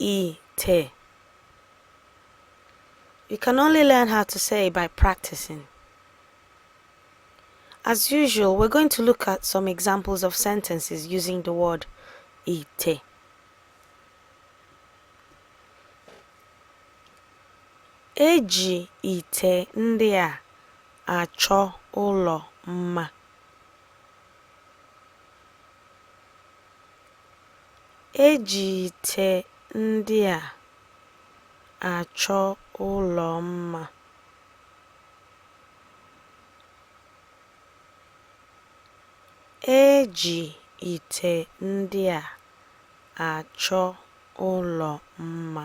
ite. You can only learn how to say it by practicing. As usual, we're going to look at some examples of sentences using the word ite. Eji ite ndị a achọ ụlọ mma. E ji ite ndị a achọ ụlọ mma. E ji ite ndị a achọ ụlọ mma.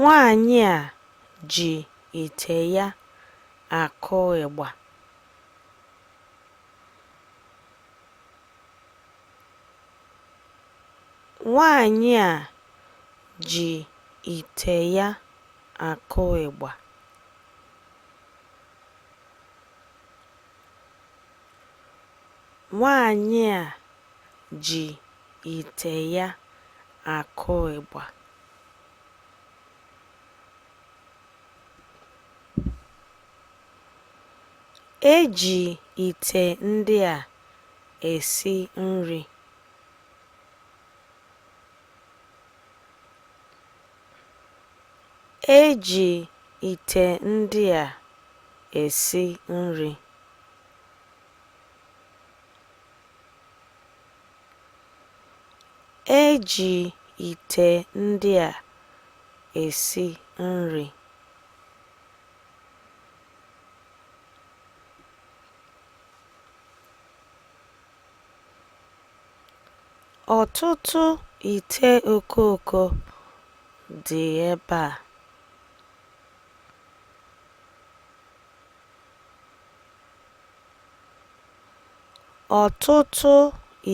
Nwaanyị a ji ite ya akụ ịgba. Nwaanyị a ji ite ya akụ ịgba. Nwaanyị a ji ite ya akụ ịgba. E ji ite ndị a esi nri. E ji ite ndị a esi nri. E ji ite ndị a esi nri. Ọtụtụ ite okooko dị ebe a. Ọtụtụ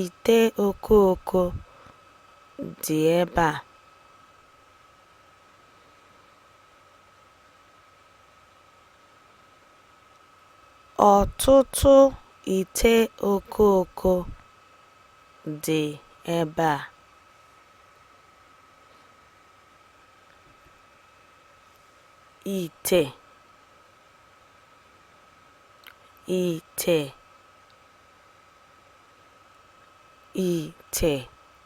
ite okooko dị ebe a. Ọtụtụ ite okooko dị ebe a. Ite ite ite